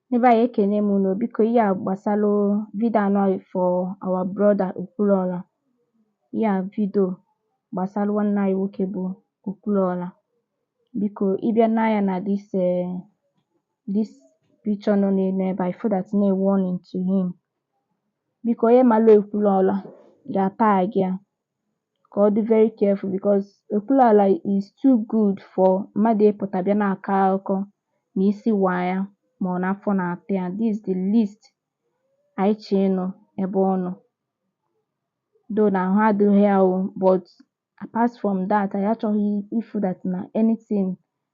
Ndị be anyị ekene m unu biko ihe a gbasalụ vidio anọ for our brother Okwuluọra ihe a vidio gbasalụ nwanne anyị nwoke bụ Okwuluọra biko ị bịa nee anya na this eh, this picture nọ n'elu ebe a ị fụ that na a warning to him biko onye malụ Okwuluọra ga-atag ya ka ọ dị very careful because Okwuluọra is too good for mmadụ ịpụta bịa na-akọ akụkọ na isi waa ya ma ọ na afọ na-ata ya. This is the least anyị chọọ ịnụ ebe ọ nọ. Though na ahụ adịghị ya o but apart from that anyị achọghị ịfụ that na anything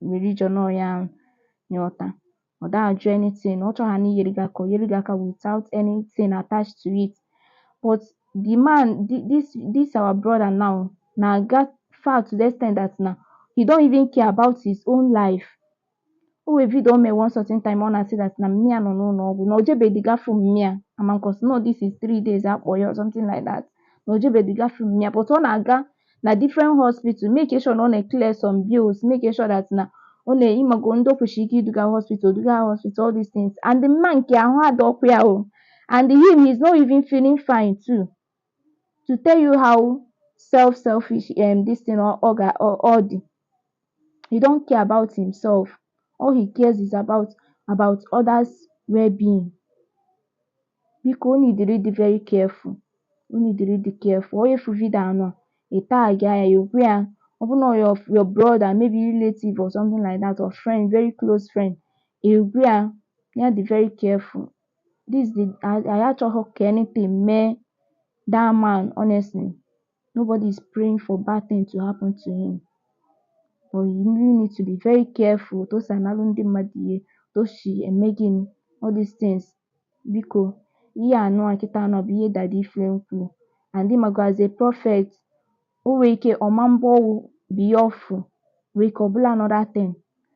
were ije nọ ya nyọta ọ da ajụ anything ọ chọhana iyere gị aka o yere gị aka without anything attached to it but the man thi- this this our brother now na-aga far to the extent that na he don't even care about his own life o nwee vidio o mee one certain time ọ na-asị that na mma ya nọ n'ụlọ ọgwụ na o jebedị ga fụ mma ya amankos no this is three days akpọ ya or something like that na o jebedị ga fụ mma ya but ọ na-aga na different hospital make sure na ọ na-eclear some bills make sure that na ọ na ị mago ndị o kwesịrị ike iduga hospital duga ha hospital all these things and the man nke ahụ adịghịkwa ya o and him he's not even feeling fine too to tell you how self selfish um, this thing ọ ọ ga ọ ọ dị He don't care about himself. All he cares is about about others well-being. Biko o needịrị ịdị very careful. O needịrị ịdị careful. Onye fụ vidio anọ, ị tag ya, ị gwa ya, ọ bụ na ọ your your brother, maybe relative or something like that, or friend, very close friend, ị gwa ya, ya dị very careful. This the anyị achọghị ka anything mee that man honestly. nobody is praying for bad thing to happen to him but you really need to be very careful otu o si analụ ndị mmadụ ihe otu o si eme gịnị all these things biko ihe anụ a kịta anụ bụ ihe Daddy Flame kwuru and ị mago as a prophet o nwere ike ọma mbụ ọwụ bụ ihe ọ fụ nwere ike ọ bụlụ another thing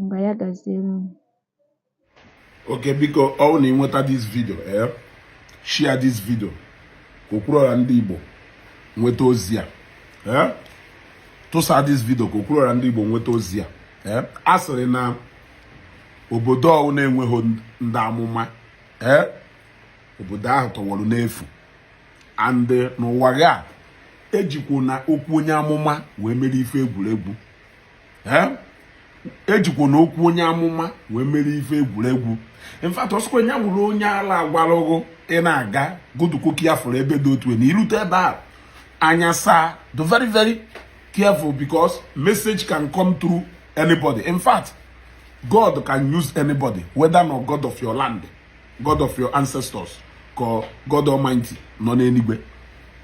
ngwa ya gaziere unu okay biko ọ wụ na i nweta this vidio ee eh, share this vidio ka Okwuruọra ndị Igbo nweta ozi a ee eh, tụsa this vidio ka Okwuruọra ndị Igbo nweta ozi a ee eh, a sịrị na obodo ọwụna enweghị ndị amụma ee obodo ahụ tọwọrọ n'efu and n'ụwa gị a ejikwuna okwu onye amụma wee mere ife egwuregwu ejikwana okwu onye amụma wee mere ife egwuregwu in fact ọ sọkwa nya wụrụ onye ala agwalụ ghụ ị na-aga godukwa ka ị ya fụrụ ebe dị otu na i rute ebe a anya saa be very very careful because message can come through anybody in fact God can use anybody whether na ọ God of your land God of your ancestors or God Almighty nọ n'eluigwe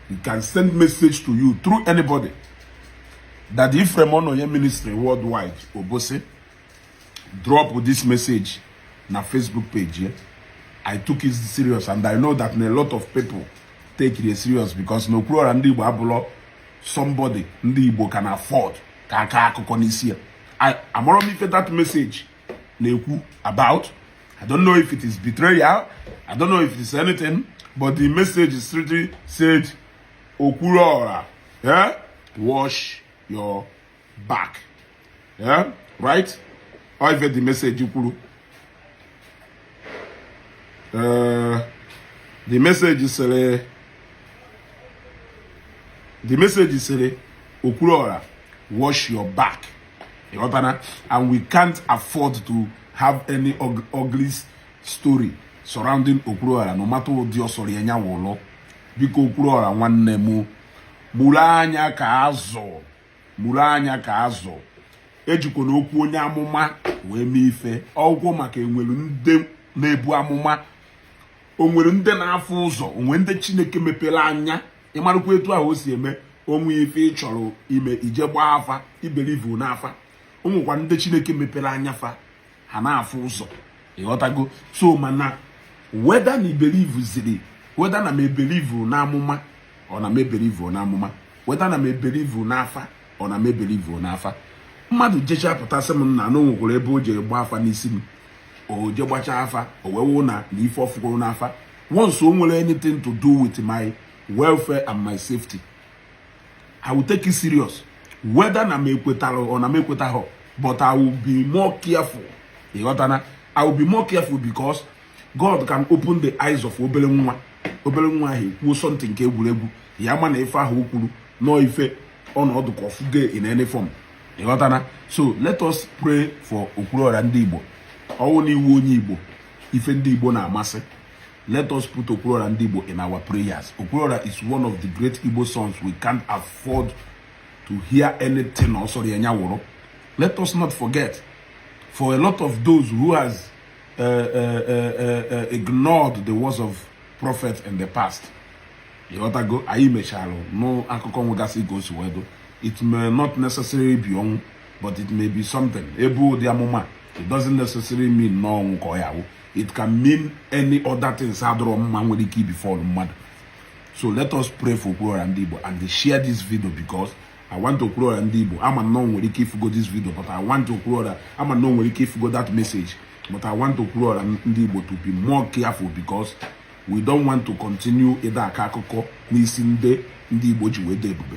he can send message to you through anybody that Ephraim Ononye ministry worldwide Obosi drop this message na Facebook page ya I took it serious and I know that a lot of people take it serious because na Okwuluora ndị Igbo abụlọ somebody ndị Igbo can afford ka a kaa akụkọ n'isi ya amarọ m ife that message na-ekwu about I don't know if it is betrayal I don't know if it is anything but the message is strictly said Okwuluora yeah? wash your back yeah? right or if the message kwuru uh, the message sịrị the message sịrị Okwuluora wash your back ịghọtana and we can't afford to have any ugly story surrounding Okwuluọra no matter ụdị ọ sọrọ ya nya wụlụ biko Okwuluọra nwanne m mụrụ anya ka azụ mụrụ anya ka azụ ejikwana okwu onye amụma wee mee ife egwu maka e nwere ndị na-ebu amụma o nwere ndị na-afụ ụzọ o nwere ndị Chineke mepere anya ị marụkwa etu ahụ o si eme o nwee ife ị chọrọ ime i jee gbaa afa i believe n'afa o nwekwa ndị chineke mepere anya fa ha na-afụ ụzọ ịghọtago so mana whether na i believe ziri whether na m ebelieve n'amụma or na m ebelieve n'amụma whether na m ebelieve n'afa or na m ebelieve n'afa mmadụ jecha pụta sị m nna na o nwekwara ebe o jere gbaa afa n'isi m o jee gbachaa afa o wee wụ na ife ọ fụgoro n'afa once o nwere anything to do with my welfare and my safety i will take it serious whether na m ekwetara or na m ekwetaghọ but i will be more careful ịghọtana i will be more careful because god can open the eyes of obere nwa obere nwa ahụ ekwuo something nke egwuregwu ya ma na ife ahụ o kwuru na ọ ife ọ nọdụ ka ọ fụgo in any form ịghọtana so let us pray for okwuruọra ndị igbo ọ wụ na ị wụ onye igbo ife ndị Igbo na-amasị let us put Okwuluora ndị Igbo in our prayers Okwuluora is one of the great Igbo sons we can't afford to hear anything ọ sọrọ ya nya wụrụ let us not forget for a lot of those who has uh, uh, uh, uh, ignored the words of prophet in the past ịghọtago anyị mechara nụ akụkọ nwegasị ka o si wee dị it may not necessarily be ọnwụ but it may be something e bu ụdị amụma it doesn't necessarily mean na ọnwụ ka ọ ya-awụ it can mean any other things adịrọ mma nwere ike ibefall mmadụ so let us pray for Okwuluọra ndị Igbo and share this video because I want Okwuluọra ndị Igbo ama m na o nwere ike ịfụgo this video but I want Okwuluọra ama m na o nwere ike ịfụgo that message but I want Okwuluọra ndị Igbo to be more careful because we don't want to continue ịda aka akụkọ n'isi ndị ndị Igbo ji wee dị ebube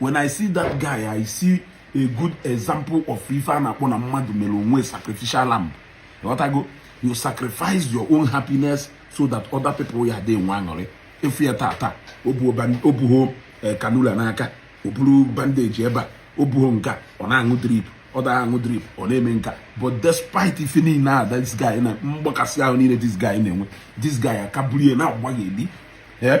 when i see that guy i see a good example of ife a na-akpọ na mmadụ mere onwe sacrificial lamb ịghọtago you sacrifice your own happiness so that other people ya dị nwe aṅụrị ị fụ ya tata o buho eh, cannula n'aka o buru bandage ebe a o buho nka ọ na-aṅụ drip ọ da aṅụ drip ọ na-eme nka but despite ife niile a this guy na mgbakasị ahụ niile this guy na-enwe this guy akabulie na-agbaghị eli eh?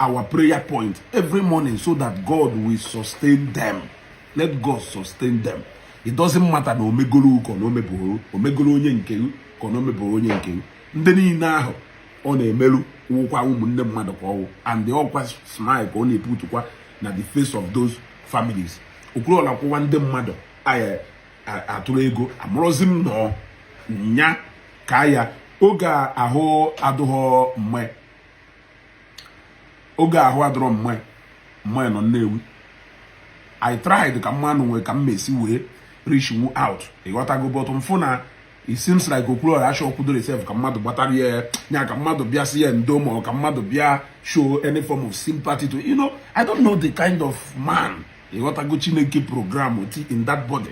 our prayer point every morning so that God will sustain them. Let God sustain them. It doesn't matter na omegoro ka na omeboro omegoro onye nke ka na omeboro onye nke ndị niile ahụ ọ na-emeru wụkwa ụmụnne mmadụ ka ọ wụ and the ọkwa smile ka ọ na-eputukwa na the face of those families Okwuluora kwuwa ndị mmadụ a ya-atụrụ ego amarọzi m nọ nya ka ya oge ahụ adụghọ mma oge ahụ adịrọ mma m nọ Nnewi i tried ka m manụ nwee ka m mesi wee reachuo out ịghọtago but m fụ na it seems like Okwuluora achọkwudoro itself ka mmadụ gbatara ya ya ka mmadụ bịa si ya ndo ma ka mmadụ bịa show any form of sympathy to you know i don't know the kind of man ịghọtago chineke program oti in that body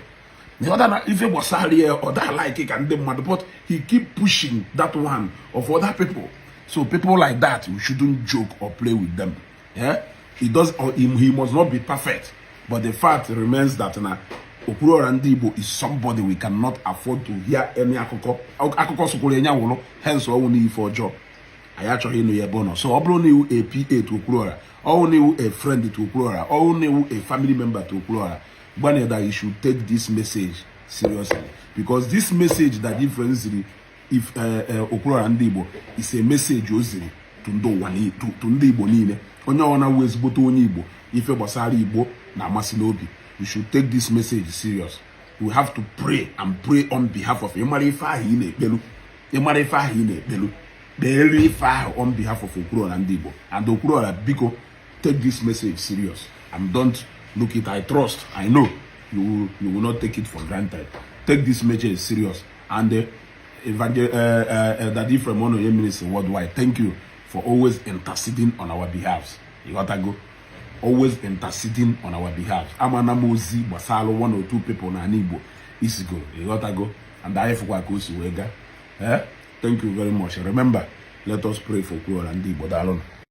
ịghọta na ife gbasara ya ọ daa like ka ndị mmadụ but he keep pushing that one of other people so people like that you shouldn't joke or play with them yeah? he does or he, he must not be perfect but the fact remains that na Okwuluora ndị Igbo is somebody we cannot afford to hear any akụkọ akụkọ sokwuru nya wụrụ hence ọ wụ n'ife ọjọọ anyị achọghị ịnụ ya ebe ọ nọ so ọ bụrụ na ị wụ a PA to Okwuluora ọ wụ na ị wụ a friend to Okwuluora ọ wụ na ị wụ a family member to Okwuluora Gbanye that you should take this message seriously because this message that different ziri if uh, uh, Okwuluọra ndị Igbo is a message o ziri to ndị ụwa to ndị Igbo niile onye ọwụna wụ ezigbote onye Igbo ife gbasara Igbo na-amasị n'obi you should take this message serious we have to pray and pray on behalf of ị mara ife ahụ ị na-ekpelu ị mara ife ahụ ị na-ekpelu kpeere ife ahụ on behalf of Okwuluọra ndị Igbo and Okwuluọra biko Take this message serious and don't look it I trust I know you will, you will not take it for granted take this message serious and uh, Evangel uh, uh, uh, Daddy from one of your ministers worldwide thank you for always interceding on our behalf you gotta go always interceding on our behalf amana m ozi gbasara one or two people na Igbo isigo ịghọtago and anyị fụkwa ka o si wee gaa eh? thank you very much remember let us pray for kwuola ndị Igbo daalụnụ